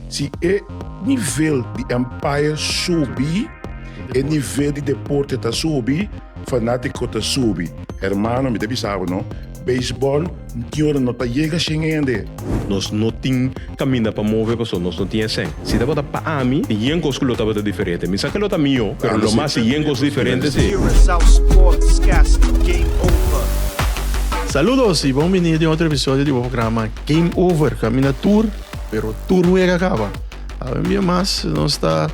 Si e nivel di umpire subi, e nivel di deporte ta subi, fanático ta subi. Hermano, mi ta bisa bo no, baseball tin ora no ta yega shen hende. Nos no tin caminda pa move pasobra nos no tin e shen. Si tabata pa ami, tin yen cos cu lo tabata diferente. Mi sa cu lo ta mijo, pero lo mas si yen cos diferente si. Curaçao Sportscast, Game Over. Saludos y bon bini di otro episodio di bo programa Game Over, caminda tur. Pero tur un ega kaba. Ave bia mas nos ta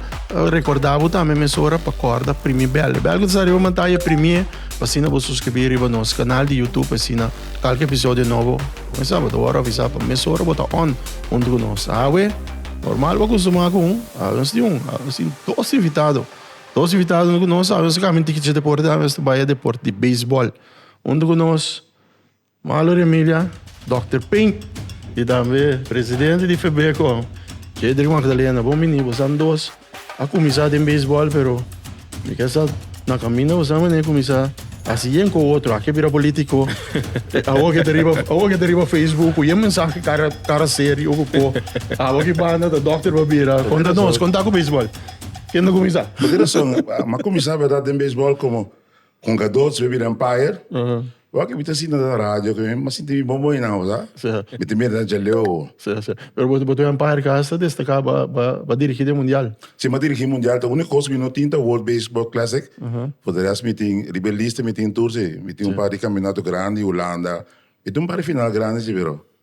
rekordá bo tambe mesora pa kòrda Primie Bèl. E bèl ku ta sa riba mantaya e Primie pa asina bo suskribí riba nos kanal di Youtube pa asina kalke episodio nobo kumesá bo ta wòrdu avisá pa mesora bo ta on huntu ku nos. Awe normal bo a kustumá ku un, awe nos tin un, awe nos tin dos invitado. Dos invitado huntu ku nos, awe nos ta kami un tikitchi deport, awe nos ta bai e deport di beisbòl huntu ku nos. Malo Remilia, Dòkter Ping, y tambe presidente di Febeco, Jedrick Magdalena, bon bini. Bosan dos a kuminsá den beisbòl, pero mi ke sa na kaminda bosan mane kuminsá hasi yen ku otro. Aki a bira polítiko. Awor ke ta riba, awor ke ta riba Facebook ku yen mensahe kara, kara serie oko ko. Awor ki banda ta dòkter pa bira. Konta nos, konta ku beisbòl. Ken ta kuminsá? Bo tin razon. Mi a kuminsá bèrdat den beisbòl komo Con Gadot su bira Empire. Wak y mi ta sinta na radio cu mi sinti mi bon bon hinao, sa. Mi ta mira na Jaleo. Sa, sa. Pero bo, bo ta Empire ka hasta destaca ba, ba, ba dirigi den Mundial. Si, mi a dirigi Mundial. Ta unica cos cu mi no tin ta World Baseball Classic. For the rest mi tin, riba e lista mi tin tur si. Mi tin un par di campeonato grandi, Hulanda. Mi tin un par di final grandi si, pero.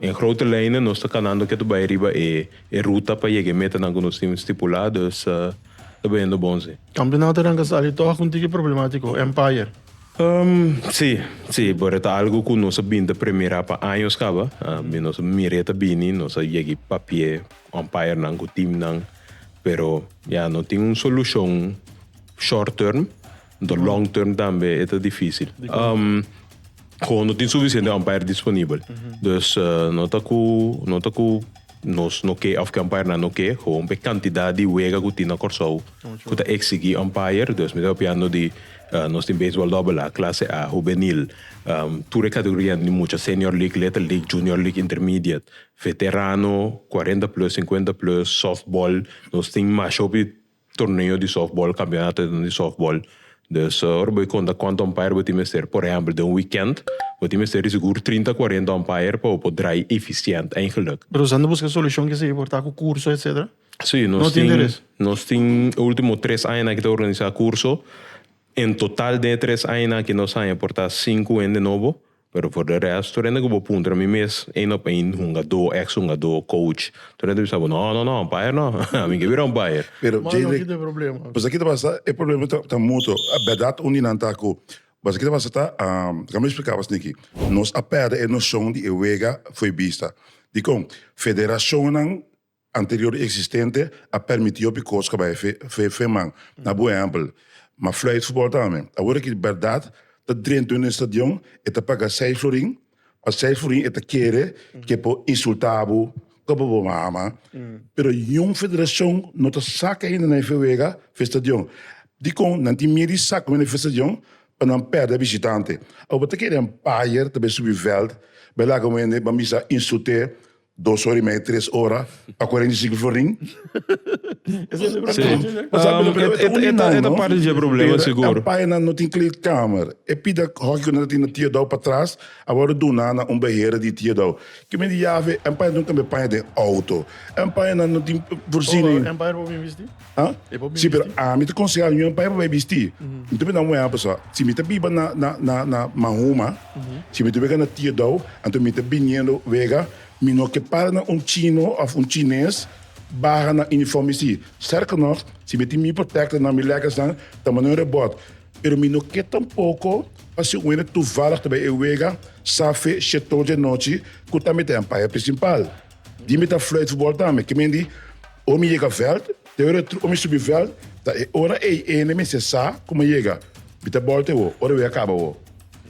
En grote lijnen nos ta kanando ke ta bai riba e e ruta pa yega e metanan ku nos tin stipulá, dus ta bayendo bon si. Kampionato a ranka sali tòg ku un tiki problemátiko, Empire. Si, si, but e ta algu ku nos a bin ta premierá pa años kaba. Mi nos a mira e ta bini, nos a yegi papia e umpirenan ku teamnan, pero ya no tin un solushon short term. Enton long term tambe e ta difícil. Kon no tin sufisiente umpire disponibel. Dus no ta ku no ta ku nos no ke òf ku umpire-nan no ke. Gewoon pa e kantidat di wega ku tin na Kòrsou ku ta eksigí umpire. Dus mi ta papiando di nos tin beisbòl dòbel A, klase A, hubenil, tur e kategorianan di mucha, senior league, little league, junior league, intermediate, veterano, kuarenta plus, sinkuenta plus, sòftbòl. Nos tin masha hopi Torneo di softball, campeonatonan di softball. Dus ora bo conta cuantu umpire bo tin mester, por ehempel den un weekend, bo tin mester di sigur trinta, cuarenta umpire pa bo por draai eficiente, eigenlijk. Pero esaki ta busca solucion ki esaki por ta cu curso etcetera? Si, nos tin, nos tin e ultimo tres aña aki ta organisa curso. En total den e tres aña aki nos haña por ta cinco hende nobo. Pero for de resto rende cu bo puntra mi mes een op een hungadó, ex hungadó, coach, tur rende ta bisa bo no, no, no, umpire no, ami ke bira umpire. Pero Jay Rick, pasobra ki ta pasa e problema ta ta mutuo, berdad un di nan ta cu, pasobra ki ta pasa ta, kico mi explica bo asniqui, nos a perde e nocion di e wega foi bista, dicon, federacionnan, anterior existente a permiti hopi cos caba e fe fe man na bo ehempel ma fluit futbol ta ami awor aki berdad ta drenta un estadion e ta paga seis florin pa seis florin e ta kere ke por insulta bo koba bo a ama pero niun federacion no ta saca ainda nan e fe wega fe estadion dicon nan tin miedo di saca nan e fe estadion pa nan perde a visitante awor bo ta kere en payer ta bay subi veld bay laga bo hende bay bisa insulte Dos ora y media tres ora pa cuarenta y cinco florin. E ta parti dje problema sigur. Pera campañanan no tin kleedkamer. E pida hockey cu nan a tin na Theodau patras a worde duna na un beheren di Theodau. Kimen di yafe? Campañanan tin un cambio paña den auto. Campañanan no tin voorziening. Empire por bai bisti? Ha? Si, pero ami ta konsehá Juan pa e papá e bistí. Mi ta puntra Juan a pasobra si mi ta biba na, na, na, na Mahuma, si mi ta wega na Teardau, anto mi ta biniendo wega, mi no ke para na un chino òf un chines baha nan uniforme sí. Sterker nog, si mi tin mi protectornan, mi lèkkersnan, ta manda un rebòt. Pero mi no ke tampoko pa si un wende tuvallig ta bai e wega, sa fe, shet tol dje anochi, ku ta mitennan pa e presimpal. Di mi ta fluit futbol tambe. Kimin di ora mi yega veld, te ora tru ora mi subi veld, ta e ora ei ene mester sa ku mi a yega. Mi ta bòl te wou, ora wei a kaba wou.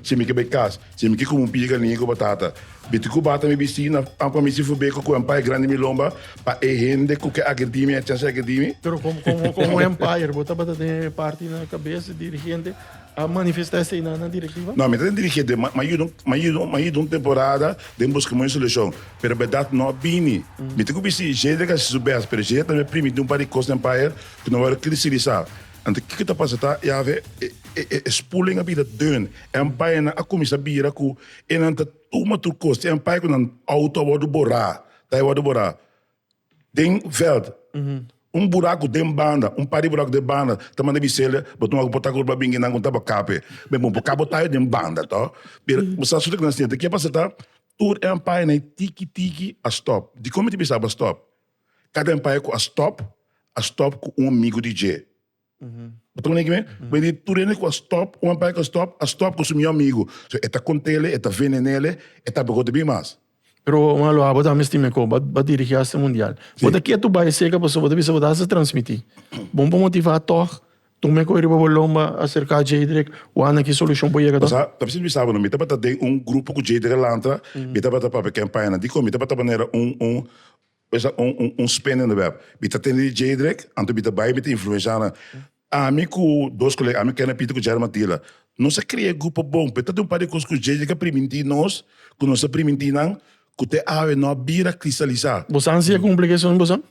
Si mi ke bai kas, si mi ke kume un piga liña ku batata, biti ku bata mi bisti na ampa mi si fu bai ku ku empire grandi mi lomba pa e hende ku ke ake di mi, a chance ake di mi. Pero komo komo komo empire bo tabata den e parti na kabes di dirigente. A manifesta esei na na direktiva? No, mi ta dirigié den ma mi yuda mi yuda mi yuda un temporada den busca moño solucion, pero berdad no a bini. Mi tin cu bisti Jade a haci su best, pero Jade a tambe a primintí un par di cos den Bayern cu no a wòrdu cristalisá. Anto kiko ta pasa ta e haver e e e spoeling a bira deun en Bayernnan a cuminsá bira cu enan ta tuma tur cos. Tin empay cu nan auto a wòrdu borá, ta a wòrdu borá. den veld, un buraku den banda, un par di buraku den banda, ta manda biselia, bo tuma ku bo ta kurba bingi nan ku ta bakape, men bo ka bo ta den banda to, pero bo sa suta ku nan siente, ke pasa ta tur e ampaya na e tiki tiki a stop, dikon mi ta bisa bo a stop? Kada ampaya ku a stop, a stop ku un migu di dje. Bo ta koneki mi? Bo a di, tur hende ku a stòp, un a bai ku a stòp, a stòp ku su mihó amigu. So, e ta kont'el, e ta venen'el, e ta bog'ot bini mas. Pero, un aloha, bo ta misti mi ku bo a dirigí hasta mundial. Bo ta kier tur bai eseka, pasobra bo ta bisa bo ta hasta transmití. Bo un por motivá tòg, tur mi a kore riba bo lomba, a serká Jeidrek, wak na ki solushon por yega tòg. Ta bisa mi sa bo no, mi tabata den un grupo ku Jeidrek a lanta, mi tabata papia kenpañanan. Dikon? Mi tabata manera un, un, Pues ta un un un spende onderwerp. Mi ta tende di Djedreck, anto mi ta bai mi ta influensha nan. Ami ku dos kolega, ami Kenneth Pieter ku Jerry Matila, nos a krea e grupo bon, pero ta den un par di kos ku Djedreck a primintí nos, ku nos a primintí nan, ku te awe no a bira kristalisá. Bosan si a kumpli ke sueño bosan?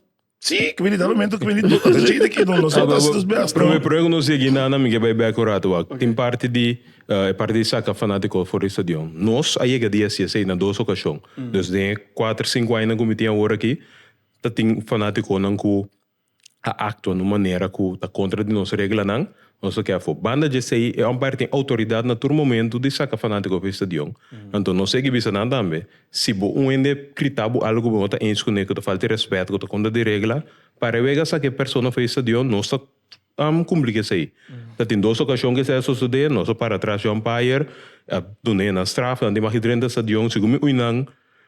Sí, ke bini tal momento, ke bini tur, ata Djedreck i nos a hasi nos bèst, no? Promé, promé ku nos yegí na nan, mi ke bai bèk un ratu wak. Tin parti di. E parti di saka fanatiko forista di Yon. Nos a yega di hasi esei na dos okashon. Dus den e kuater, sinku añanan ku mi tin awor aki, ta tin fanatikonan ku a aktua na un manera ku ta kontra di nos reglanan, nos ta ke afó. Banda di esei, e òmper tin outoridat na tur momentu di saka fanatiko forista di Yon. Anto nos segui bisa nan tambe, si bo un hende grita bo algu ku bo no ta enskuné, ku ta falta di rèspèt, ku ta kontra di regla, para e wega saka e persona forista di Yon, nos ta. Am cumpli cu esey. Ta tin dos ocasion cu esey a sosode, nos a para atras Jan Pajer, a duna e nan straf, nan tin maki drenta e stadion, segun mi uinan,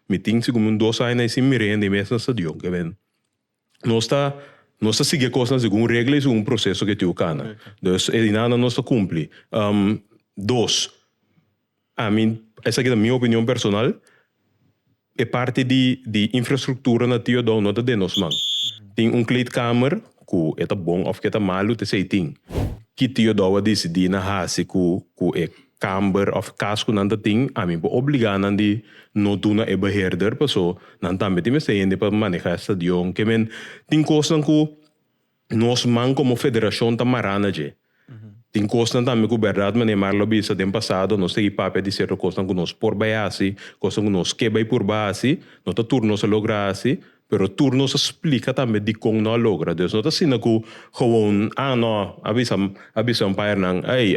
mi tin segun mi un dos aña na e sin mira hende mes na stadion, ke men, nos ta, nos ta sigui e cosnan segun regla y segun proceso cu e tiu cana, dus e dinana nos ta cumpli. Dos. Ami, esaki ta mi opinion personal, e parti di di infrastructura na Tio Don no ta den nos man. Tin un kleedkamer ku e ta bon of ke ta malu ta esei tin. Ki Tio Don a disidi na hasi ku ku e kamber of kas ku nan ta tin, ami por obliga nan di no duna e beheerder paso nan tambe tin mester hende pa maneha e stadion. Ke men tin kosnan ku. Nos man como federacion ta mara na dje. Tin cosnan tambe cu berdad manera Marla a bisa den pasado nos ta yey papia di cierto cosnan cu nos por bay a haci, cosnan cu nos ke bay purba haci, no ta tur nos a logra haci, pero tur nos a splica tambe dicon no a logra. Nos no ta asina cu gewoon ah no a bisa a bisa un paiernan ey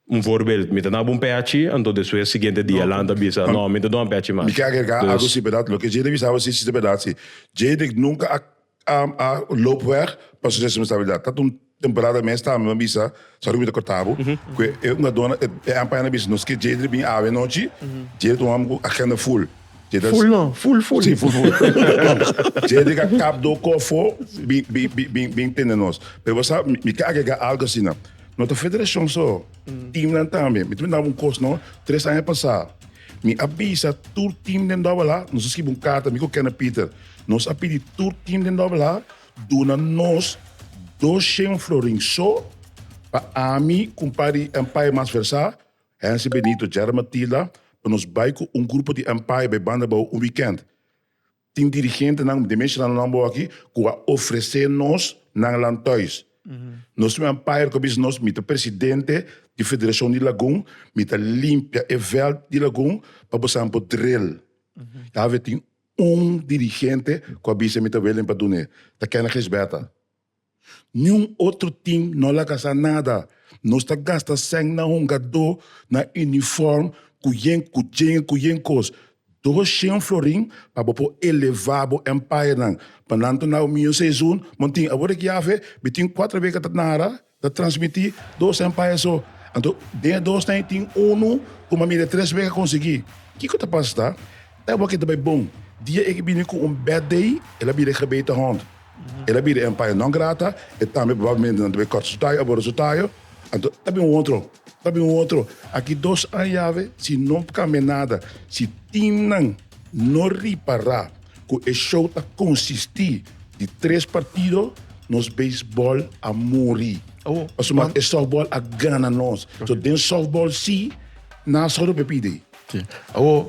un voorbeeld mi ta daba un ph anto despues siguiente dia Alan ta bisa no mi ta duna ph mi mas. Mi ke agregar algo si berdad lo ke Jay ta bisa awe si ta berdad si Jay nunca a A a loop weg pa su responsabilidad. Ta un temporada mes ta mi a bisa sa Ruby ta cortabu cu e e ungadona e e Empire a bisa nos ke Jade a bini awe anochi, Jade ta un homber cu agenda full. Jade ta Full no, full full. Si full full. Jade a kap do kop fo bin bin bin bin bin tende nos. Pero bo sa mi ke agrega algo asina. No ta federacion so, teamnan tambe. Mi ta mintaba un cos no, tres aña pasa mi a bisa tur team den Dobbela nos a scribi un carta mi cu Kenneth Pieter Nos a pidi tur tin den Dòbelha duna nos dos shen florin so pa ami, kumpari Empire mas versá, Hensie Benito, Gerard Matilda, pa nos bai ku un grupo di Empire bai banda bou un wikènt. Tin dirigentenan, den mes shenandonan nan bou aki, ku a ofresé nos nan lantòis. Nos tin un Empire ku a bisa nos, Mi ta presidente di Federashon di Lagun, mi ta limpia e vèlt di Lagun pa bosamen por dril. Dave tin. Un dirigente cu a bisa mi ta welen pa dun'e ta Kenneth Gisberta. Niun otro team no laga sa nada. Nos ta gasta cen na hungadó, na uniform, cu yen cu djenge cu yen cos. Dos shen florin pa bo por eleva bo empire nan. Mannan tuna bo mi un seison, mon tin, awor deki afe, mi tin cuatro weken ta nara. Ta transmití dos empire so. Anto den e dos nain tin unu ku mami de tres wek a konsiguí. Kiko ta pasa ta e wak ke ta bai bon. Dia e ke bini ku un bad day, el a bira e gebeten hond. El a bira empire non grata, e tambe probablemente nan ta bai kort su tayo, a bora su tayo. Anto ta bin un otro, ta bin un otro. Aki dos an yawe si no kambia nada, si teamnan. No ripará ku e show ta konsistí di tres partido, nos beisbòl a muri. Pasobra Don- e sòftbòl a gana nos. So den sòftbòl sí, nan sòru pe pidi. Sí. Awor,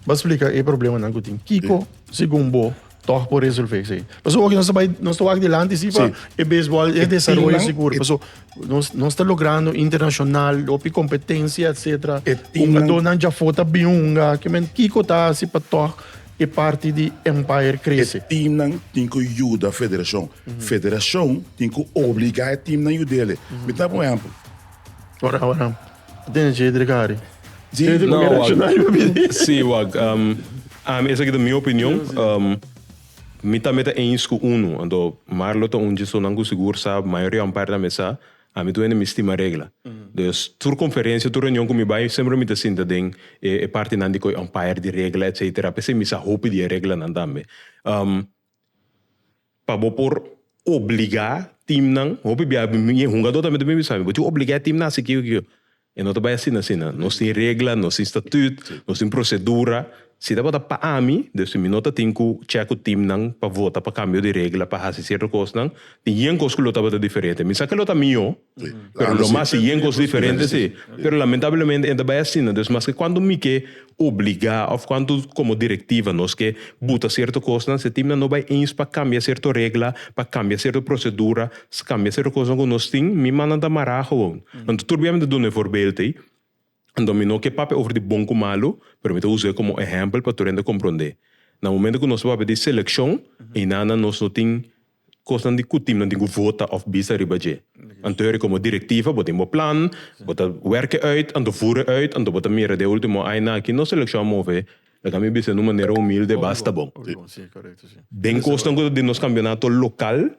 ba splika e problemanan ku tin. Kiko, segun bo, Tòg por resolvé esei. Pasobra oki nos ta bai, nos ta wak dilanti si pa e beisbòl, e desaroyo sigur. Paso nos, nos ta logrando internashonal, hopi kompetensia, etsetera. Hungadónan djafó ta bin hunga. Ke men, kiko ta hasi pa tòg e parti di Empire krese? E timnan tin ku yuda federashon. Federashon tin ku obligá e timnan yud'e. Mi ta da bo ehèmpel. Ora, ora. Tene che dre kari. Sí, Tene te no, comer wak. racional pa pidi. Sí, wak. Um, ami, esaki ta mi opinion. Um, mi tambe ta eens cu uno. Anto, Marlo ta un djesonan cu sigur sa, mayoritaman par tambe sa, ami tu hende mi stima regla. Dus, tur conferencia, tur reunion cu mi bai, semper mi ta sinta den e, e partinan di coi umpire, di regla, etcetera. P'esei mi sa hopi di e reglanan tambe. Um, Pa bo por obliga teamnan hopi bia mi hungador ta mester bisa mi bo tin obliga e team nan a hasi kiko kiko e no ta bai asina asina nos tin regla nos tin statut nos tin procedura si ta tabata pa ami den si mi no ta tin ku chè ku teamnan pa vota pa kambio di regla pa hasi cierto cosnan tin yen cos ku lo tabata diferente mi sa ke lo ta mihó. Pero lo mas yen cos diferente si. Pero lamentablemente enta bay asina. Dus maske cuantu mi ke obliga of cuantu como directiva nos ke buta cierto cosnan si e teamnan no bay eens pa cambia cierto regla, pa cambia cierto procedura, cambia cierto cosnan cu nos tin mi mandan ta mara gewoon. Anto tur biamente duna e voorbeeld ey. Anto mi no ke papia over di bon ku malu, pero mi ta usae komo ehèmpel pa tur hende komprondé. Na momento ku nos ta papia di selekshon, einanan nos no tin kosnan di ku timnan tin ku vota òf bisa riba dje. Anto yòri komo direktiva bo tin bo plan, bo ta wèrk'e uit, anto vur'e uit, anto bo ta mira den e último aina aki nos selekshon a move Ta cambia bisa en un manera humilde, Basta bon. Den cosnan cu ta den nos campeonato local,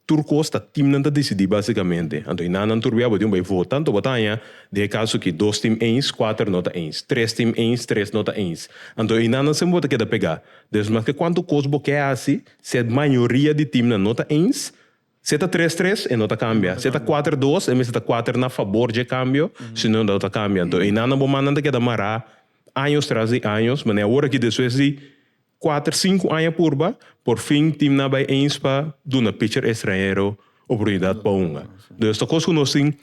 tur cos ta teamnan ta decidi basicamente. Anto y na nan tur biabotin bay vota, anto bo ta haña den e caso aki, dos team eens, cuater no ta eens, tres team eens, tres no ta eens. Anto y na nan semper bo ta keda pega. Despues mas ke cuanto cos bo ke haci, si e mayoria di teamnan no ta eens, Si e ta tres tres, e no ta kambia. Si e ta kuater dos, e mester ta kuater na fabor dje kambio, si no e no ta kambia. Anto einan bo mannan ta keda mará años tras di años. Manera awor aki despues di kuater, sinku aña purba, por fin timnan a bai eens pa duna pitcher estranhero oportunidat pa hunga. Entonces ta kos ku nos tin.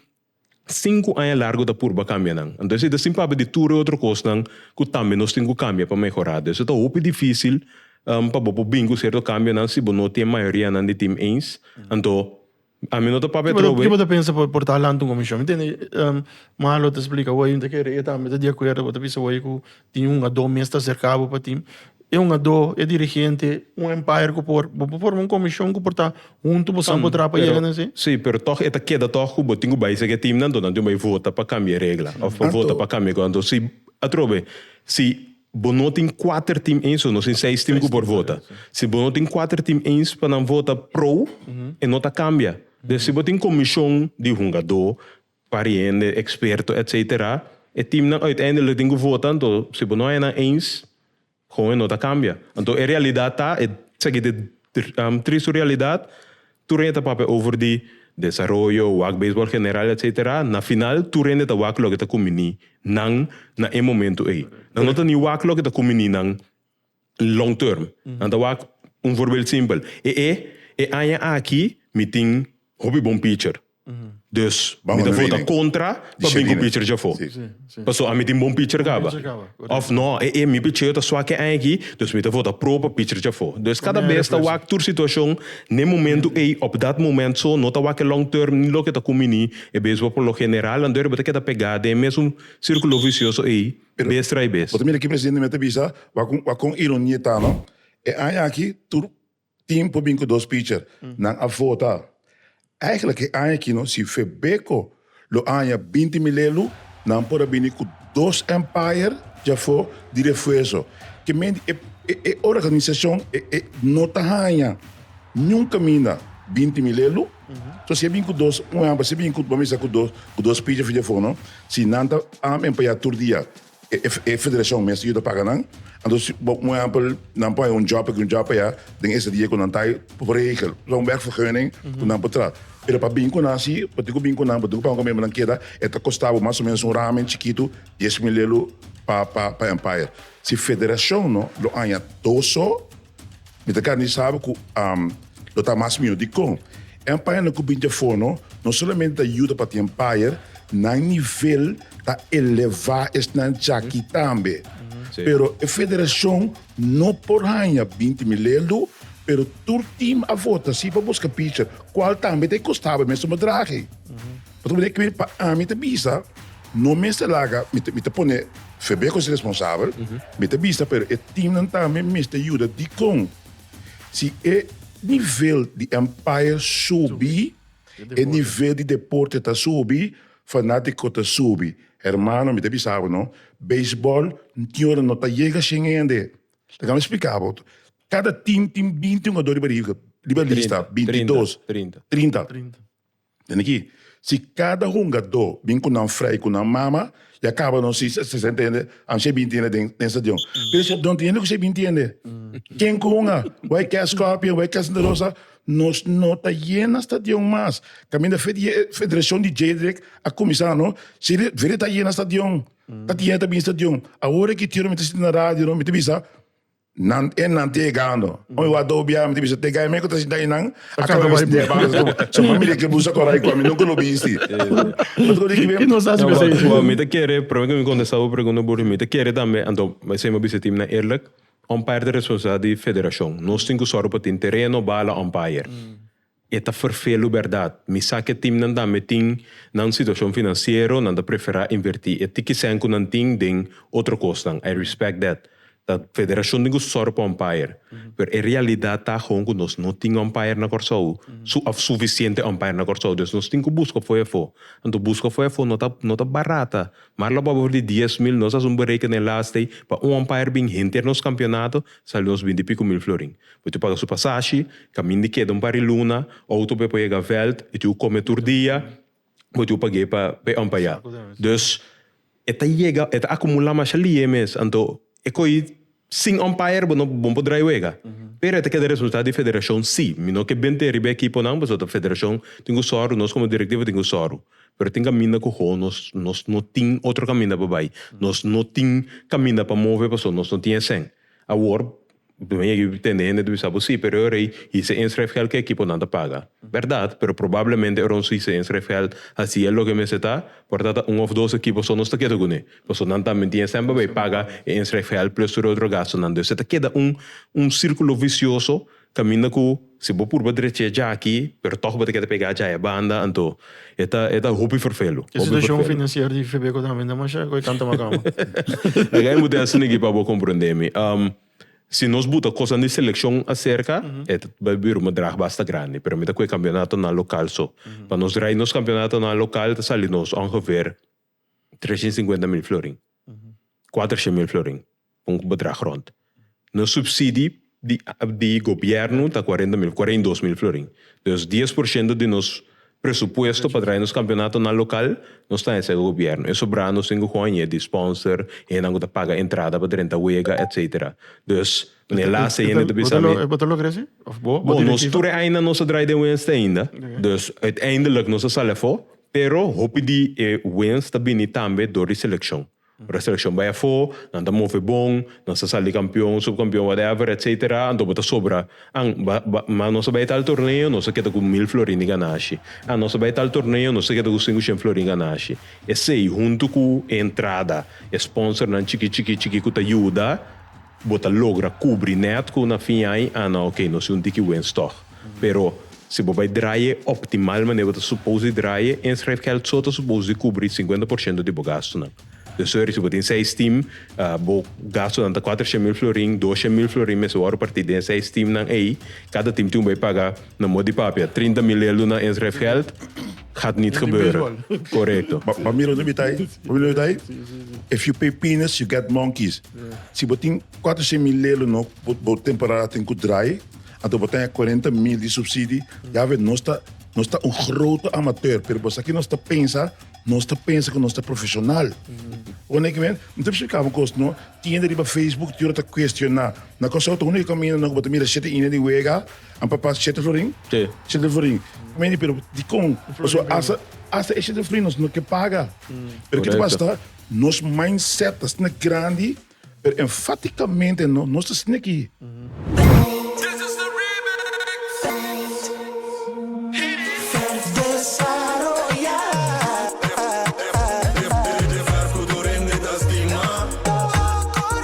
Sinku aña largu ta purba kambia nan. Anto esei ta sin papia di tur e otro kosnan ku tambe nos tin ku kambia pa mehorá. Por eso ta hopi difísil pa bo por bini ku sierto kambionan si bo no tin e mayorianan di tim eens. Anto ami no ta papia atrobe. Kiko bo ta pensa por ta lansa un komishon? Mi tende malo ta splika wei, mi ta kere e tambe ta di akuerdo, bo ta bisa wei ku Tin un adó mes ta serká bo pa tin e un adó e dirigente un empire ku por bo por forma un komishon ku por ta huntu bo sa bo traha pa yega na esei. Sí, pero tòg e ta keda tòg ku bo tin ku bai sege timnan anto nan tin ku bai vota pa kambia e regla òf pa vota pa kambia e kos anto si atrobe si bo no tin kuater tim eens nos tin seis tim ku por vota si bo no tin kuater tim eens pa nan vota pro e no ta kambia den si bo tin komishon di hungadó pariende, eksperto etc. E teamnan uiteindelik tin ku vota, anto si bo no haya nan eens, kon e no ta kambia. Anto e realidat ta, e esaki ta e tristu realidat, tur hende ta papia over di desaroyo, wak beisbòl general etc. Na final tur hende ta wak loke ta kuminí nan na e momentu ei. Nan no ta ni wak loke ta kuminí nan long term. Nan ta wak un voorbeeld simpel, e e e aña aki mi tin hopi bon pitcher, dus mi ta vota kontra pa bin ku pitchers afó, paso ami tin bon pitcher kaba. Òf nò, e e mi picheo ta swak e aña aki, dus mi ta vota pro pa pitchers afó. Dus kada bes ta wak tur situashon n'e momentu ei, op dat moment so, no ta wak e long term ni loke ta kuminí e beisbol. Por lo general, anto e riba ta keda pegá den e mesun sirkulo visioso ei. bes trai bes. Bo ta mira ki presidente mester bisa wak kon ironia e ta no? E aña aki tur team por bin ku dos picher. Nan a vota. Eigenlijk e aña aki no si Febeco lo aña binti mil elu nan por a bini ku dos empire djafo di refuerzo. Ke men di e organisacion no ta haña niun kaminda binti mil elu. So si e bin ku dos, un ehèmpel, si e bin ku, bo a mester ku dos, ku dos pichi videofono, si nan ta am en payá tur dia, e e federashon mester yuda paga nan. Anto si bo un ehèmpel nan por haya un jòb aki un jòb payá den ese dia ku nan ta por regel lo un wegvergunning ku nan por tra. Pero pa bin ku nan si bo tin ku bin ku nan bo tin ku paga kòmpromé nan keda e ta kostá bo mas o menos un ramen chikitu dies mil lelu pa pa pa empire. Si federashon no lo aña dos so Mi ta gana di sabi ku lo ta mas mihó. Dikon? E ampañanan ku bin di afó no no solamente ta yuda pa tin ampayer, nan nivel ta elevá esnan djaki tambe. Pero e federashon no por haña binti mil eldu, pero tur tim a vota sí pa buska picher, kual tambe ta e kostaba mesmu bedrag ei. Pasobra di e kue pa ami ta bisa no mester laga mi ta pone febe ku si responsabel, mi ta bisa pero e timnan tambe mester yuda dikon si e nivel di umpire subi e nivel di deporte ta subi fanatiko ta subi hermano mi ta bisa bo no beisbol tin ora no ta yega shen hende laga mi splika bo kada tim tin binti un hodor riba riba lista binti dos trinta. Den aki, si kada hungadó bin ku nan frei ku nan mama, ya kaba no si si e ntende an si e bin tiende den den stadion. Pero si e don tiende ku si e bin tiende, ken ku hunga? Wei ke Scorpion, wei ke Santa Rosa, nos no ta yena stadion mas. Kaminda fe di e federashon di Jadrek a kuminsá no, si e vede ta yena stadion, ta tiende ta bin stadion. Awor aki Tio mi ta sinti na radio no, mi ta bisa, Nan e nan tegando. Oi wa do biaha mi ta bisa tega eme ku ta sinta einan a kaba bisti dia basis komo su familia ke busa kora i ku ami nunka lo bisti. Bo ta koto di kibe? E nos hasi kusai. Bo mi ta kere promé ku mi kontesta bo pregunta Burhi mi ta kere tambe anto esei mi a bisa tin na eerlik umpire ta responsabilidat di federashon. Nos tin ku sòru pa tin tereno, bala, umpire. E ta ferfelu berdad. Mi sa ke timnan tambe tin nan situacion financiero nan ta prefera inverti e tiki cent cu nan tin den otro cosnan. I respect that. Ta federacion tin cu sor pa umpire. Pero e realidad ta gewoon cu nos no tin umpire na Corsou, su of suficiente umpire na Corsou. Des nos tin cu busca fo'i afo. Anto busca fo'i afo no ta no ta barata. Mar la bobo di dies mil nos haci un berekenen last day pa un umpire bin henter nos campeonato sali nos binti picu mil florin. Bo tin paga su pasashi, kaminda i keda un par di luna, outo be por yega veld, i tin ku kome tur dia, bo tin ku pag'é pa e ompayá. Dus e ta yega, e ta akumulá masha li'é mes, anto e koi sin ompayer bo no bo no por drai wega. Pero e ta keda responsabilidat di federashon sí, mi no ke bente riba e ekiponan pasobra ta federashon tin ku sòru, nos komo direktiva tin ku sòru, pero tin kaminda ku ho nos nos no tin otro kaminda pa bai, nos no tin kaminda pa move pasobra nos no tin esei. Awor. Dueño di e tende hende ta bisa, Bo si, pero e rei hise een schrijfgeld keki por nan ta paga. Berdad, pero probablemente e rons su hise een schrijfgeld hasi el loke mester ta, por ta ta un of dos ekipo so nos ta keda kuné, paso nan tambe tien semper bay paga e een schrijfgeld plus tur e otro gastunan. Entonces ta keda un un círculo vicioso kaminda ku. Si bo purba drecha e djaki, pero tòg bo ta keda pegá dja e banda, anto e ta e ta hopi ferfelu. E situashon finansier di Febeko tambe ta mashá goi tanta makama. Laga e mudensanan aki pa bo komprondé mi. Si nos buta kosanan di selekshon aserka, e ta bai bira un bedrag basta grandi, pero mi ta kue kampionatonan lokal so. Pa nos draai nos kampionatonan lokal ta sali nos ongeveer. Treshen i sinkuenta mil florin, kuatershén mil florin pa un bedrag rònt. Nos supsidi di di gobièrnu ta kuarenta mil, kuarenta i dos mil florin. Dus dies por shento di nos presupuesto pa traha nos kampionato na lokal nos ta hesek gobièrnu. E sobrá nos tin ku hòñe di spònser, hendenan ku ta paga entrada pa drenta wega etsetera. Dus den e lasta hende ta bisa mi. Bo ta logra esei? Òf bo, bo direktiva? Bo, nos tur e aña nos ta drai den Wenstai ainda. Dus uiteindelik nos a sali afó Pero hopi di e wins ta bini tambe dor di selekshon. Ora selekshon bai afó, nan ta move bon, nan sa sali kampion, supkampion, whatever, etc. Anto bo ta sobra. An, ba, ba, ma nos a bai tal torneo, nos a keda ku mil florin di ganashi. An, nos a bai tal torneo, nos a keda ku sinku shen florin ganashi. Esei, huntu ku e entrada, e sponsornan chikí, chikí, chikí ku ta yuda, Bo ta logra kubri nèt ku na fin ai ana oké nos i un tiki wens tòg. Pero si bo bai draye optimal manera bo ta supos di draye, e schrijfgeld so ta supos di kubri sinkuenta por shento di bo gastunan. Den su er si bo tin seis tim, bo gastunan ta kuater shemil florin, dos shemil florin mester wòrdu partí den e seis timnan ei. Kada tim tin ku bai paga, na mot di papia, trinta mil lelu na e schrijfgeld. gaat niet gebeuren. Correcto. Ba mira un debitai, ba mira un debitai. If you pay peanuts, you get monkeys. Si bo tin cuatro cien mil lei lo no, bo, bo temporada tin cu draai, anto bo ta haya cuarenta mil di subsidi. Ya we, nos ta, nos ta un grote amateur, pero bo sa ki nos ta pensa, nos ta pensa cu nos ta profesional. Bo na kimen, mi ta splicá bo un cos, no? Tiende riba Facebook, ti ora ta cuestiona, na Kòrsou ta unu di camindonan cu bo ta mira shete inda di wega, An papá Chete Florin? Te. Chete Florin. Meni, pero dikon? Pasobra hasta, hasta e Chete Florin nos no ke paga. Pero kiko ta pasa ta, nos mindset ta stina grandi, pero enfatikamente no, nos ta stina aki.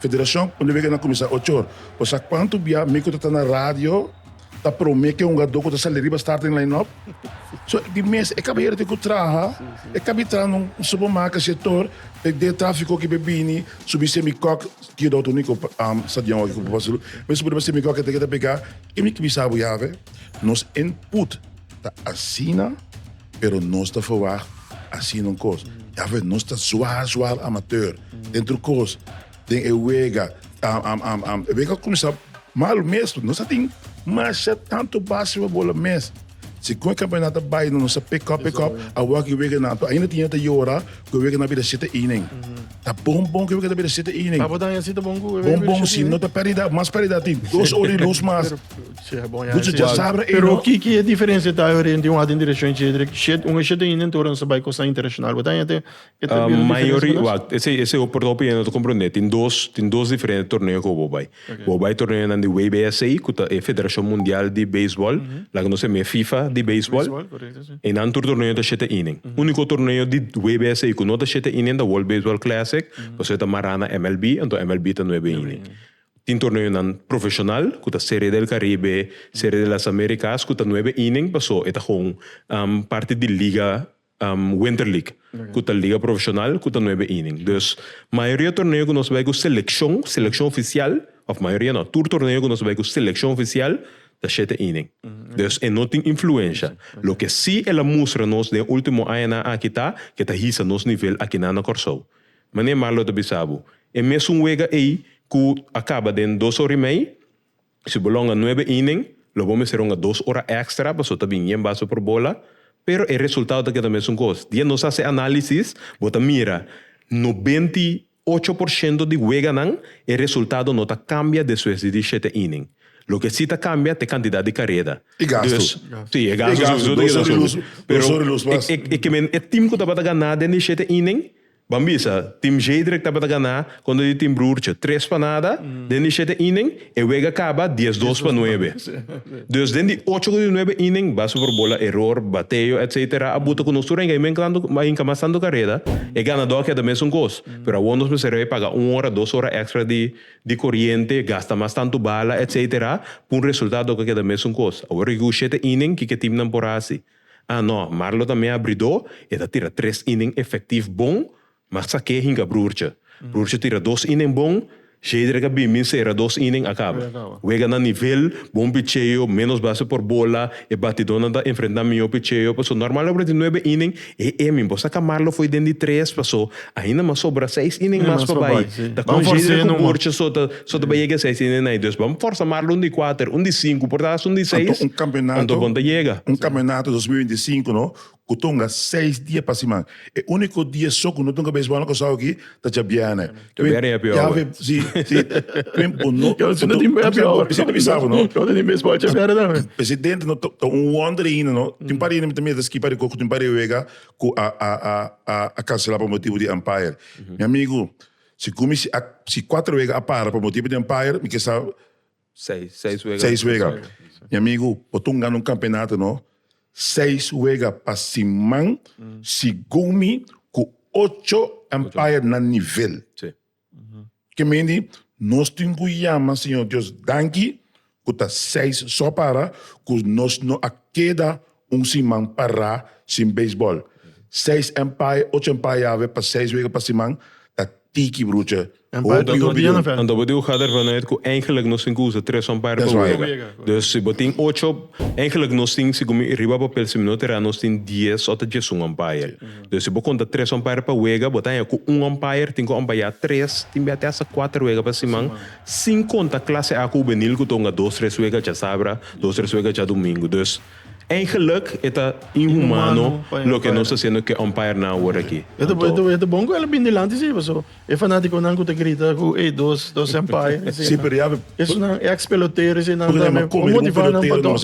Federashon un di weken a kuminsá ocho or. Bo sa kuantu bia mi ku ta ta na radio ta promé ke hungadó ku ta sali riba start den line-up? So, di mes e kabayero tin ku traha, e ka bin traha na un supermarket sektor, e den tráfiko aki be bini subi semi kòk, ki edòt uniko stadion aki ku papá Zulu, be subi riba semi kòk e te ke ta pegá. Ke mi ta bisa bo ya awe? Nos input. Ta asina, pero nos ta verwacht asina un kos. Dafweg nos ta zwaar zwaar amateur den tur kos, den e wega. E wega a kuminsá malu mes pasobra nos a tin masha tantu base pa bola mes. Si kon e kampeonato a bai, nos a pekòp pekòp, a wak e weganan anto. Ainda tin gente ta yora ku e weganan a bira shete inning. Ta bon bon ku e weganan ta bira shete inning. Bon bon si no ta pèrdida, mas pèrdida tin dos ora di lus mas. Bucha dja sabra ey no. Pero ki diferencia ta hay oriente un aden direccion y cedric shed? Un shed ta yendo entora nos ta bay cosnan internacional. Bo ta haña te e ta bido diferencia pa nos? Esey esey ho porta opinion ta comprende. Tin dos tin dos diferente torneo cu bo bay. Bo bay torneo nan di WBSA cu ta e federacion mundial di baseball la cu nos ta yama fifa di baseball. E nan tur torneo ta shed ta inen. Unico torneo di WBSA cu no ta shed ta inen ta world baseball classic pasobra e ta mara na MLB enton MLB ta nuebe inen. Tin torneonan profesional cu ta Serie del Caribe, Serie de las Americas cu ta nuebe inning paso e ta con parti di liga Winter League cu ta liga profesional cu ta nuebe inning. Dus mayoria torneo cu nos bay cu seleccion, seleccion oficial, of mayoria no, tur torneo cu nos bay cu seleccion oficial ta shete inning. Dus e no tin influencia. Loke si el a mustra nos den ultimo añanan aki ta cu e ta hisa nos nivel akinan na Corsou. Mane Marlo ta bisa bo, e mesun wega ei ku a kaba den dos ora i mei, si bo longa nuebe inen, lo bo mester longa dos ora èkstra pasobra ta bin yen baso por bola, pero e resultado ta keda mesun kos. Dia nos hasi análisis, bo ta mira nobenta i ocho por shento di weganan e resultado no ta kambia despues di dieshete inen. Loke si ta kambia ta e kantidat di kareda. I gastu. Si, e gastu subi, dos ora i lus, dos ora i lus mas. E kimen e tim ku tabata ganá den dieshete inen, Ban bisa, Team Zedrek tabata ganá con e di Team Broertje tres pa nada den di shete inning, e wega caba dies-dos pa nuebe. Dus den di ocho cu di nuebe inning, base por bola error, bateo, etc. A buta cu nos tur a hinca inmenclando, a hinca mas tanto careda, e ganadó a keda mesun cos. Pero awor nos mester bay paga un ora, dos ora extra di di coriente, gasta mas tanto bala, etc. P'un resultado cu a keda mesun cos. Awor aki cu shete inning, kiko e teamnan por haci? Ah no, Marlo ta mea bridó, e ta tira tres inning efektif bon, mas sa ke hinka Broertje. Broertje tira dos inning bon, Shedrick a bimin sera dos inning, a kaba. Wega na nivel, bon picheo, ménos base por bola, e batidónan ta enfrentá mihó picheo, pasó nòrmal awor di nuebe inning, e e min por saka Marlo fo'i den di tres, pasó, Ainda mas sobra seis inen mas pa bai. Ta con Jadriel cu Burtje so ta bai yega seis inen ai. Dus bam forsa Marlo un di kuater, un di sinku por ta hasta un di seis. Anto bon ta yega. Un campeonato dos mil binti sinku no cu tunga seis dia pa siman. E unico dia so cu no tunga beisbol na Curaçao aki ta djabierne. Cu biernen happy hour. Si, si. Cu biernen cu no. Cu no tin happy hour. Cu no tin happy hour. Cu no tin beisbol djabierne tambe. Presidente no ta un wonder ainda no. Tin pare ainda mi ta mira ta skipa rico cu tin pare wega cu a cancela pa motibu di umpire. Mi amigu, si cu mi si cuatro wega a para pa motibu di umpire, mi ke sa seis wega. Mi amigu, bo ta un gana un campeonato no. Seis wega pa siman, segun mi, cu ocho umpire na nivel. Kemey di nos tin ku yama Señor Dios danki ku ta seis so para ku nos no a keda un siman pará sin beisbòl. Seis empay, ocho empay yave pa seis wega pa siman ta tiki brucha. Hopi hopi di un. Anto bo tin ku kada hermano yet ku eingelik nos tin ku usa tres umpire pa wega. Dus si bo tin ocho, eingelik nos tin, sigun mi riba papel si mi no tirá, nos tin dies òf ta diesun umpire. Dor si bo konta tres umpire pa wega, bo ta haña ku un umpire tin ku umpayá tres tin biaha te hasta kuater wega pa siman, sin konta klase A kubenil ku ta hunga dos tres wega djasabra, dos tres wega djadumingu. Dus, eigenlik e ta inhumano loke nos ta hasiendo ku e umpire-nan awor aki. E ta bon ku el a bini dilanti si paso e fanatikonan ku ta grita ku ey dos dos umpire eseinan, esunnan, ex pelotero eseinan ta motivá nan pa dor.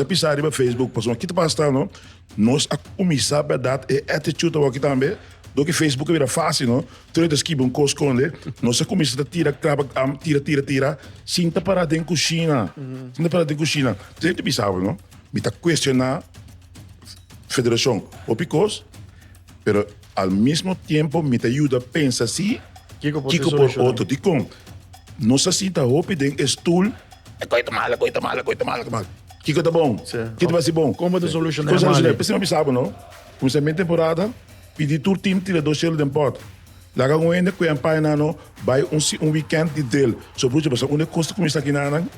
Nos a kuminsá bèrdat e attitude awor aki tambe. Dor ki Facebook a bira fásil, no? Tur e ta skibi un kos konde, nos a kuminsá ta tira krab akdam, tira, tira, tira, sin ta pará den kushina, sin ta pará den kushina. Entonces mi ta bisa awor, no? Mi ta kuestioná federashon hopi kos, pero. Al mismo tiempo mi ta yuda pensa si Kiko por Kiko por solucioná? otro. Dikon? Nos a sinta hopi den e stoel. E koi ta mal, e koi ta mal, e koi ta mal, e koi ta mal. Kiko ta bon? Sí. Kiko ta hasi bon? Kon bo ta solucioná Kon e solucioná? mali? P'esei mi a bisa bo no, Kuminsá mi temporada, pidi tur team tira dos shelu den pot. Laga un hende ku e ampaña nan no bai un si un weekend di drill. So bruchi, bo sa unda e kos ta kuminsá kinánan?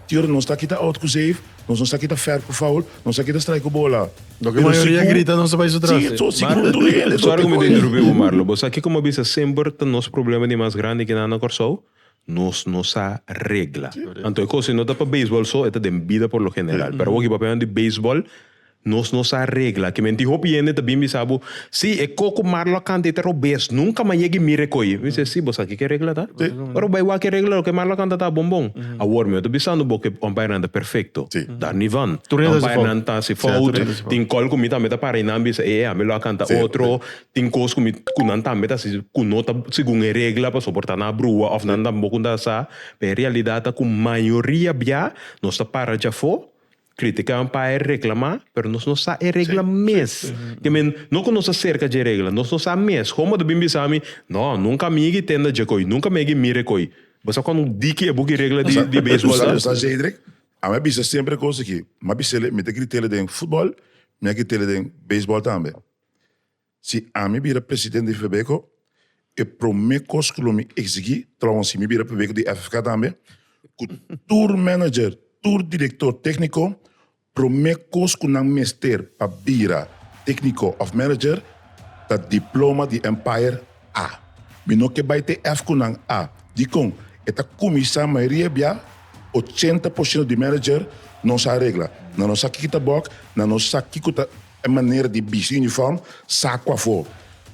Tur nos ta kita out ku zeef, nos nos ta kita fèr ku foul, nos ta kita strai ku bola. Doki mayoria grita nos ta bai su tras. Si, si ku duele, so te koi. Sorry ku mi ta interrumpí bo Marlo. Bo sa kiko mi a bisa semper ta nos problema di mas grandi ku nan na Kòrsou? Nos no sa regla. Anto e kos ei no ta pa beisbòl so, e ta den bida por lo general. Pero awor ku papia nan di beisbòl, Nos no sa regla ki menti. Hopi hende ta bin bisa bo, Sí, e koko mar lo a kanta, e ta robes. Nunka mas yega i mira e koi. Mi bisa, Sí, bo sa ki ke regla ta? Ora bo a wak e regla, loke e mar lo a kanta ta bon bon. Awor mi ta bisando bo ku hombainan ta perfekto. Dar ni van. Hombainan ta hasi fout. Tin kos ku mi tambe ta para i nan bisa, Ehe, ami lo a kanta otro. Tin kos ku mi, ku nan tambe ta hasi ku no ta segun e regla pa soportá nan a brua òf nan tampoco ta sa. Pero e realidat ta ku mayoria bia nos ta para djafó. Critica un pa e regla ma, pero nos no sa e regla mes. Ke men, no cu nos ta cerca dje regla, nos no sa mes. Homo ta bin bisa mi, No, nunca mi yegi tenda dje coy, nunca mi yegi mire coy. Bo sa con diki e buki regla di baseball ta? U sa Zedrick? Ami a bisa semper e cos aki. Mi a bisele, mi ta gritele den football, mi a gritele den baseball tambe. Si ami bira presidente di Febeco, e prome cos cu lo mi exigi, trouwens si mi bira prebeco di FFK tambe, cu tur manager, tur director tecnico, prome cos cu nan mester pa bira tecnico of manager ta diploma di Empire A. Mi no ke bay te F cu nan A. Dicon? E ta cuminsa mayoria bia ochenta por ciento di manager no sa regla, nan no sa kico ta bug, nan no sa kico ta E manera di bisti uniform, saku afó.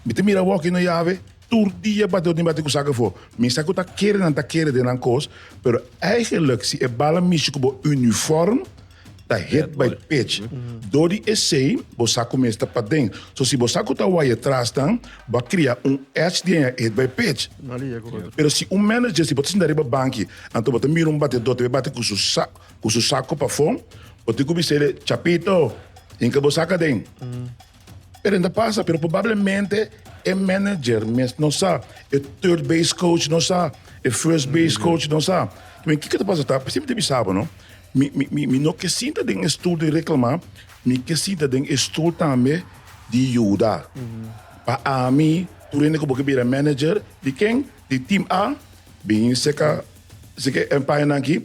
Mi ta mira wòkio no yave, tur dia bati otin bati ku saku afó. Mi sa ku ta kere nan ta kere den nan kos, pero eigenlik si e bal a mishi ku bo uniform ta hit by pitch. Dor di esei bo sa ku mes ta paden. So si bo sa ku ta waya trasnan, bo a kria un edge di aña e hit by pitch. Pero si un manager si bo ta sinta riba banki, anto bo ta mira un batedó ta bai bati ku su Ku su saku pafon o tin ku bis'é de chapito hinka bo saka den. Pero enta pasa, pero probablemente e manager mes no sa, e third base coach no sa, e first base coach no sa. Kimin kiko ta pasa ta, mi siempre ta bisa bo no, mi mi mi mi no ke sinta den e stul di reklama, mi ke sinta den e stul tambe di yuda. Pa ami tur hende ku bo ke bira manager di ken, di team A, bin seka Así ke e pañanan aki,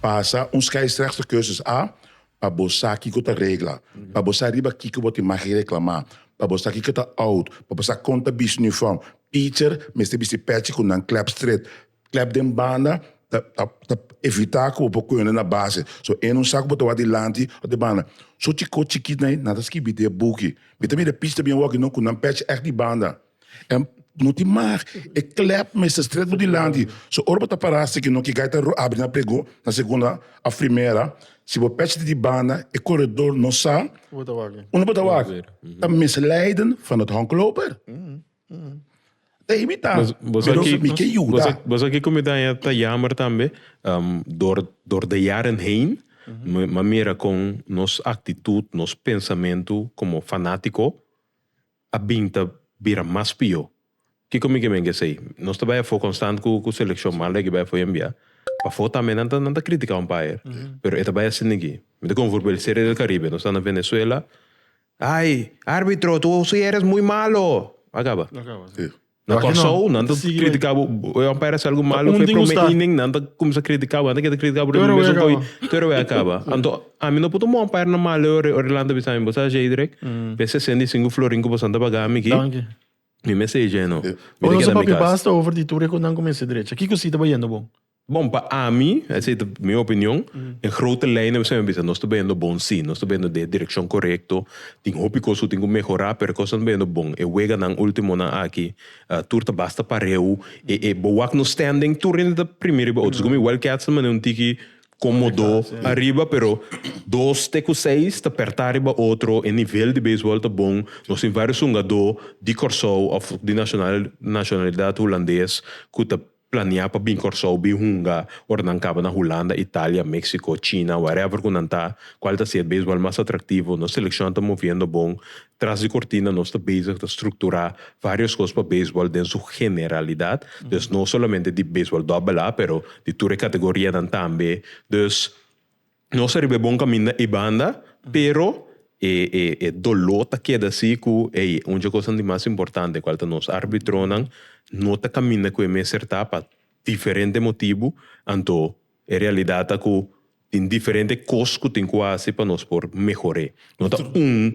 pasa un scheidsrechter cursus a pa bo sa kiko ta regla, pa bo sa riba kiko bo tin magi reklamá, pa bo sa kiko ta out, pa bo sa kon ta bisti uniform. Pitcher mester bisti pechi ku nan klep stret. Klep den banda ta ta ta evitá ku bo por koyona na base. So e no sa ku bo ta wak dilanti òf di banda. So chikó chikit na ei nan ta skibi den e buki. Mi ta mira e pitch ta bien wòk i no ku nan pechi èk di banda. E no tin mag, e klep mester stret bo dilanti. So ora bo ta para seki no ki gai ta abri na pregó, na segunda of primera, si bo pech di di banda, e koredor no sa unda bo ta wak. Ta mes leiden van het honkloper. Ta imita, pero mi ke yuda. Bo sa kiko mi ta ta jammer tambe? Dor dor de jaren heen mi a mira kon nos aktitut, nos pensamentu komo fanátiko a bin ta bira mas pió. Kiko mi ke men ke esei? Nos ta bai afó konstant ku ku selekshon malu ei ke bai afó enbia. Pafó tambe nan ta nan ta kritika un payer, pero e ta bai a sinti aki. Mi ta konfur ku el Serie del Caribe. Nos ta na Venezuela, Ai, árbitro, tu suyeres muy malo! Akaba. Na Kòrsou nan ta kritika bo, e wan parese algu malu, fu e promé inning nan ta kuminsá kritika bo, nan ta keda kritika bo riba mi mesun koi, tur awe a kaba. Anto ami no por ta mon para na malo e ora, ora e lanta bisa mi, bo sa Sheidrek? Pe e sesenta i sinku florin ku bo santa pa gami aki, mi mester e jeno. Bo no sa papia basta over di tur e ku nan kuminsá drecha. Ki kosita ta yendo bon? Bon, pa ami, esei ta mi opinion, den grote lijnen biseo mi bisa nos ta beyendo bon si, nos ta beyendo den e direccion correcto, tin hopi cos cu tin cu mehora, pero e cosnan ta beyendo bon, e weganan ultimonan aki, tur ta basta pareu, e e boak nos standing tur rinde ta primi riba otros, gomi Wildcats ta mane un tiki comodo ariba, pero dos te cu seis ta perta riba otro, e nivel di baseball ta bon, nos tin vario sungado di Corsou of di nacional nacionalidad Hulandes cu ta. Planea pa bin Kòrsou bin hunga ora nan kaba na Hulanda, Italia, Mexico, China, whatever ku nan ta, kual ta ser beisbòl mas atraktivo, nos selekshon ta moviendo bon, tras di kortina nos ta bezig ta strukturá vários kos pa beisbòl den su generalidat, dus no solamente di beisbòl dòbbel A pero di tur e kategorianan tambe, dus. Nos ta riba e bon kaminda i banda, pero e e e doló ta keda si ku ey un dje kosnan di mas importante kual ta nos arbitronan no ta kaminda ku e mester ta pa diferente motibu, anto e realidat ta ku tin diferente kos ku tin ku hasi pa nos por mehor'é. No ta un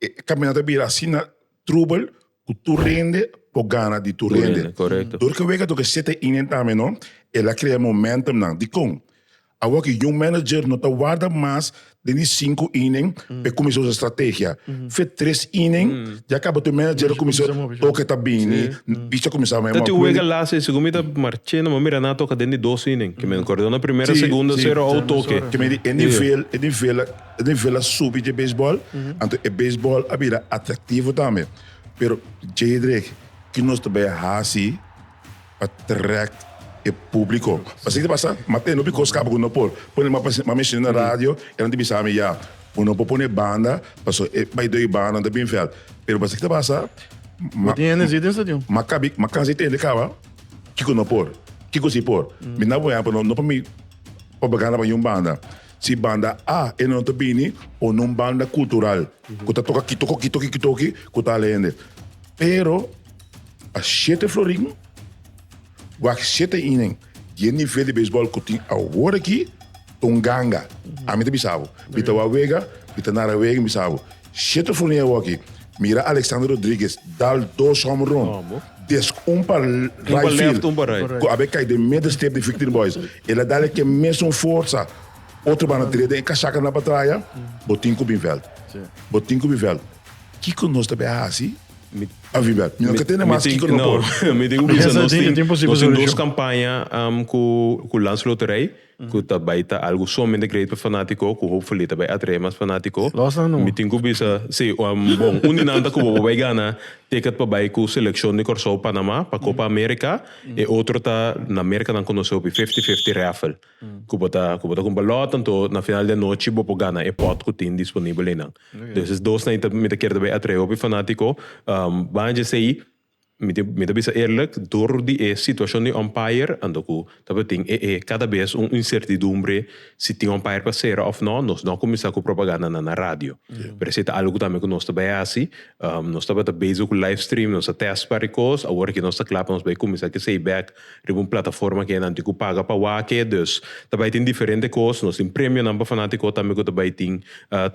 E caminata ta bira asina trubel cu tur rende por gana di tur rende. Dor cu wega toca sete inen tambe no, el a crea momentumnan. Dicon? Awo aki Young Manager no ta warda mas den di cinco inen pa e cuminsa usa strategia. Fe tres inen ya caba tur manager a cuminsa toca ta bini, bichi a cuminsa mei mor. Ta tin un wega lasa y segun mi ta marce no, mi a mira nan a toca den di dos inen. Kimen cordo na primera, segunda, cero out toke. Kimen di e nivel, e nivel. E nivel a subi dje beisbòl, anto e beisbòl a bira atraktivo tambe. Pero, Jedrick, ki nos ta bai hasi pa trèk e públiko? Pasobra ki ta pasa? Mi a tende hopi kos kaba ku no por pone mas pasensia. Mi a menshon'é na radio, e nan ta bisa mi, Ya, bo no por pone banda, paso e bai doi banda nan ta bin vèlt. Pero pasobra ki ta pasa? Mi a tin energia den stadion. Mi a kabi, mi a kansa di tende kaba kiko no por, kiko si por. Mi na bo ehèmpel, no pa mi propaganda pa niun banda. Si banda A e no ta bini o nun banda kultural ku ta toka kitoki kitoki kitoki ku ta ale hende. Pero a shete florin wak shete inen di e nivel di beisbòl ku tin awor aki ta un ganga. Ami ta bisa bo. Mi ta wak wega, mi ta nara wega, mi bisa bo. Siete funi awaki mira Alexander Rodriguez dal dos home run desk un pa right field cu a be cay den midden stip di Victory Boys. El a dal eken mesun forza. Otro banda trede e casaca na batraya. Bo tin cu bin veld. Bo tin cu bin veld. Kico nos ta be a haci pa bin veld? Mi no ta tende mas kico no por. Mi tin cu bisa nos tin dos campaña cu Lans Loterij. ku ta bai ta algu somente great pa fanatiko ku hopefully ta bai atrae mas fanatiko. Los nan no. Mi tin ku bisa si bon un di nan ta ku bobo bai gana ticket pa bai ku selekshon di Kòrsou Panama pa Copa America e otro ta na Merka nan konosé hopi fifty fifty raffle ku bo ta ku bo ta kumpra lòt anto na final di anochi bo por gana e pòt ku tin disponibel einan entonces dos nan mi ta kier ta bai atrae hopi fanatiko banja esei Mi ta mi ta bisa eerlijk, door di e situacion di umpire anto cu tabatin e e cada vez un incertidumbre si tin umpire pa cera of no, nos no a cuminsa cu propagandanan na radio. Pero ese ta algo tambe cu nos ta bay haci. Nos tabata bezig cu livestream, nos a test par e cos, awor aki nos ta cla pa nos bay cuminsa cu esey bek riba un plataforma ke nan tin ku paga pa wak ke dus ta bai tin diferente kos nos tin premionan pa fanatiko tambe ku ta bai tin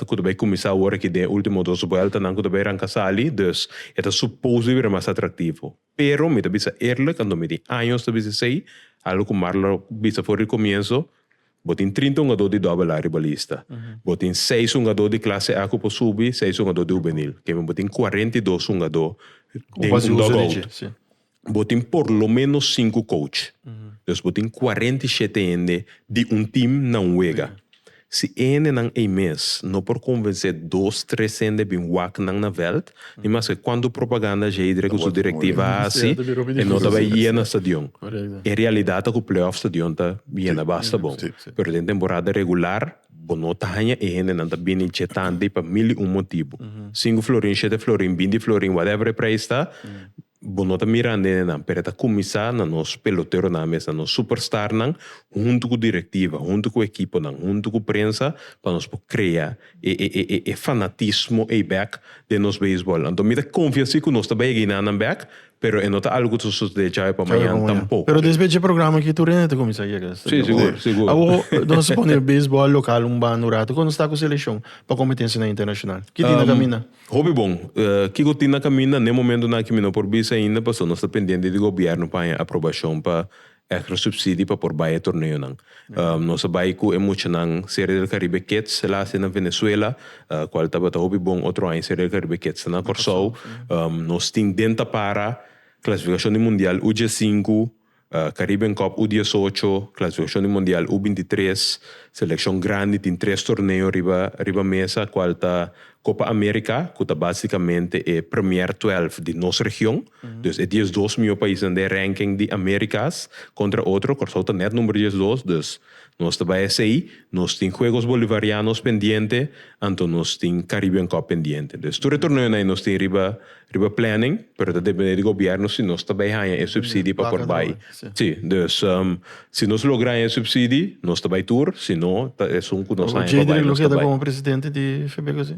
ku ta bai kuminsá awor aki den e ultimo dos buèltanan ku ta bai ranka sali dus e ta supos di bira mas atraktivo pero mi ta bisa eerlik anto mi tin años ta bisa esei algu ku Marla lo bisa for di komienso bo tin trinta hungadó di doubel A riba lista bo tin seis hungadó di klase A ku por subi seis hungadó di hubenil kemi bo tin kuarenta i dos hungadó den un dogout. bo tin por lo menos sinku coach. Dus bo tin cuarenta i shete hende di un team nan wega. Si e hendenan ei mes no por convencé dos, tres hende bin wak nan na veld, ni maske cuantu propaganda Zedre cu su directiva a haci, e no ta bay yena stadion. E realidad ta cu playoff stadion ta yena basta bon. Pero den temporada regular bo no ta haña e hendenan ta bini djetante i pa mil i un motibu. Sinku florin, shete florin, binti florin, whatever e prijs ta, Bo no ta mira nenenan, pero e ta kuminsá na nos peloteronan mes, na nos superstarnan, huntu ku direktiva, huntu ku ekiponan, huntu ku prensa pa nos por krea e e fanatismo ei bèk den nos beisbòl. Anto mi ta konfia si ku nos ta bai a gina nan bèk, pero e no ta algu ku ta sosodé djawe pa mañan tampoko. Pero despues dje programa aki tur hende ta kuminsá yega. Sí, sigur, sigur. Awor nos ta supone beisbòl lokal un banda un ratu, kon nos ta ku selekshon pa kompetensianan internashonal? Ki tin ta kaminda? Hopi bon. Kiko tin na kaminda? Na e momentonan aki mi no por bisa ainda pasobra nos ta pendiente di gobierno pa haña aprobacion pa extra subsidio pa por bai e torneonan. Nos a bai cu e muchanan Serie del Caribe Kids last year na Venezuela, cual tabata hopi bon. Otro aña Serie del Caribe Kids ta na Corsou. Nos tin den ta para clasificacion di mundial uj e sinku. Caribbean Cup U diesocho, Clasificacion di Mundial U bintitres, Seleccion grandi tin tres torneo riba riba mesa cual ta Copa America cu ta basicamente e premier twelf di nos region, dus e diesdos miyo paisnan den ranking di Americas contra otro, Curaçao ta net number diesdos, dus Nos ta bai esey, nos tin Juegos Bolivarianos pendiente, anto nos tin Caribbean Cup pendiente. Entonces tur e torneonan nos tin riba riba planning, pero ta depende di Gobierno si nos ta bai haya e subsidi pa por bai. Si, dus si nos logra haya e subsidi nos ta bai tur, si no ta esun cu nos haya pa bai nos ta bai. Jadre Lujeda como Presidente di Febeco si?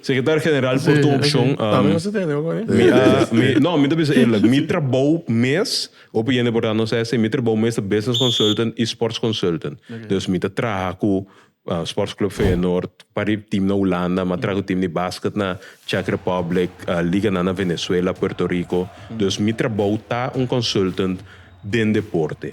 Secretario General por tur opcion. Mi a, mi, no, mi ta bisa eerlijk. Mi trabou mes, hopi hende por ta no sa esei, mi trabou mes ta business consultant y sports consultant. Dus mi ta traha cu Sports Club Feyenoord, pari team na Hulanda, mi a traha cu team di basket na Czech Republic, liganan na Venezuela, Puerto Rico. Dus mi trabou ta un consultant den deporte.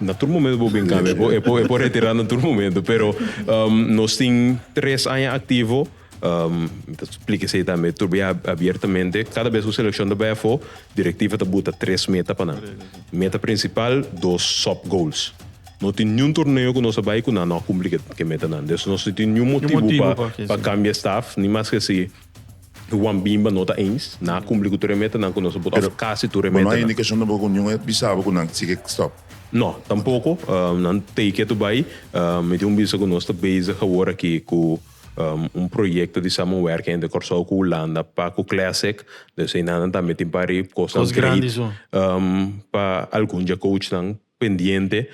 Na tur momento bo bin cambia, e por e por retira na tur momento, pero nos tin tres aña activo, mi ta splica esey tambe tur bey abiertamente, cada bes cu seleccion ta bay afo directiva ta buta tres meta pa nan, meta principal, dos sub goals, no tin niun torneo cu nos a bay cu nan no a cumpli ke metanan, nos no tin niun motivo pa cambia staff ni mas ke así Juan Bimba no ta eens, nan a cumpli cu tur e metanan cu nos a put of casi tur e metanan. Bo no hay indicacion tampoco cu niun a bisa bo cu nan sigue stop? No, tampoco. Nan take care to bay. Mi tin un bisa cu nos ta bezig awor aki cu un proyecto di samenwerking entre Corsou cu Hulanda pa cu Classic. Dor esey nan tambe tin pari cosnan greit pa algun djakoutjnan. pendiente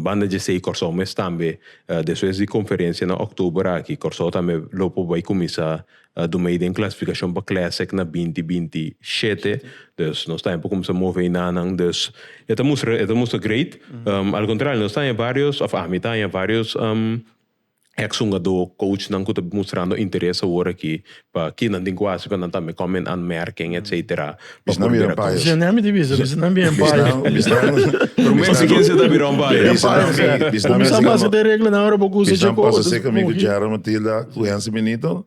banda djesei Kòrsou mes tambe despues di konferensia na òktober aki Kòrsou tambe lo por bai kuminsá dumei den klasifikashon pa Classic na binti binti shete dus nos tambe por kuminsá move enanan dus e ta mustra e ta mustra great al kontrario nos ta haña vários òf ami ta haña vários Ex hungadó, coachnan ku ta mustrando interes awor aki pa ki nan tin ku hasi pa nan tambe come in aanmerking etc. Pa por bira coach. Bisnan mi ta bisa, bisnan bira umpire. Pero mi hasi ken sa ta bira umpire. Bisnan mi hasi. Kuminsá pasa den reglanan ora bo ku usa dje coach. Bisnan pasa seka mi ku Gerald Matilda ku Hensi Benito.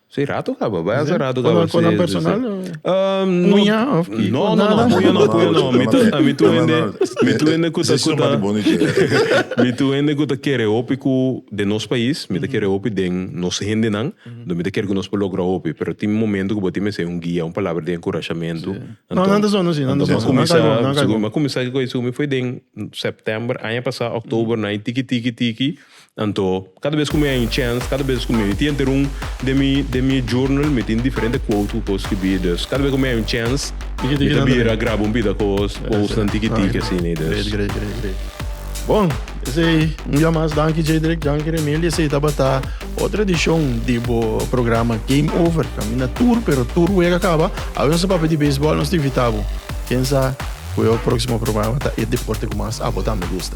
Si rato kaba, bèsa rato kaba. Kon a kon a personal? Muña of ki? No, no, no, muña no, muña no. Mi ta, mi ta hende, mi ta hende ku ta, ku ta, mi ta hende ku ta kere hopi ku den nos pais, mi ta kere hopi den nos hendenan, nto mi ta kere ku nos por logra hopi, pero tin momento ku bo tin mester un guia, un palabra di enkurashamentu. No, nan ta sono si, nan ta sono si. Bo kuminsá, nan kai bo. Bo kuminsá ku esaki, mi foi den September aña pasá, October nan e tiki tiki tiki, Anto, kada bes ku mi a un chèns, kada bes ku mi mi tin henter un den mi den mi journal mi tin diferente quote ku kos skirbí. Dus kada bes ku mi a un chèns mi ta bira graba un bida kos, quotesnan tiki tiki asina. Great, great, great, great. Bon, esei un dia mas danki Jedrick, danki Remiel i esei tabata otro edishon di bo programa Game Over. Kaminda tur pero tur wega kaba, awe nos ta papia di beisbòl, nos ta invitá bo. Ken sa ku e próksimo programa ta e deporte ku mas abo tambe gusta.